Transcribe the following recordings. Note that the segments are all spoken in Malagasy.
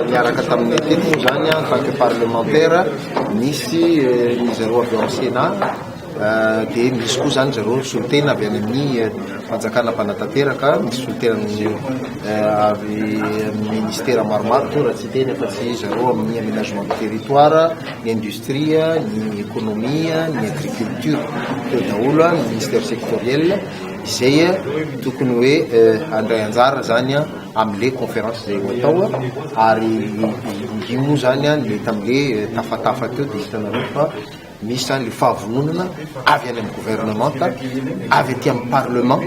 Niaraka taminay teto moa izany en tant que parlementaire, nisy ry zareo avy ao Sénat, dia misy koa izany ry zareo solotena avy any amin'ny fanjakana mpanatanteraka, misy solotena avy amin'ny ministera maromaro koa raha tsy hiteny afa-tsy ry zareo amin'ny aménagement du territoire, ny industrie, ny économie, ny agriculture. Teo daholo ny ministère sectoriel. izay tokony hoe handray anjara zany amle conférence zay ho atao ary io moa zany le tamle tafatafa teo de hitanareo fa misy zany le fahavononana avy any amin'ny gouvernemanta avy aty amin'ny parlement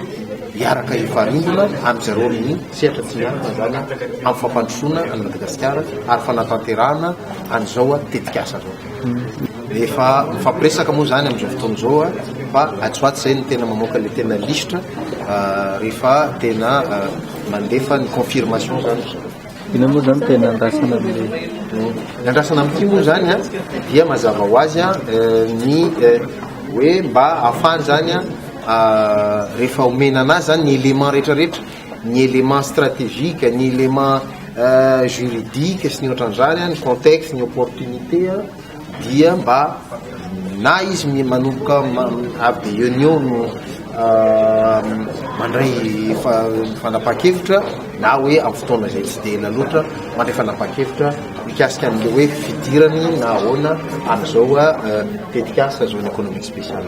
hiaraka hifanindrona amizareo amin'ny sehatra tsy miankina zany amin'ny fampandrosoana an'i Madagasikara ary fanatanterahana an'izao tetikasa zao. Efa mifampiresaka moa izany amin'izao fotoana izao a, fa atsy ho atsy izay no tena mamoaka ilay tena lisitra rehefa tena mandefa ny confirmation izany ry zareo. Inona moa izany no tena andrasana amin'ilay. Ny andrasana amin'ity moa izany a, dia mazava ho azy a, ny hoe mba ahafahany izany a, rehefa omena an'azy izany ny éléments rehetrarehetra, ny élément stratégique, ny élément juridique sy ny ohatran'izany, ny contexte, ny opportunité dia mba na izy mi- manomboka avy dia eo ny eo no mandray fa- fanapahan-kevitra na hoe amin'ny fotoana izay tsy dia ela loatra mandray fanapahan-kevitra mikasika an'ilay hoe fidirany na ahoana amin'izao tetikasa zone économique spéciale.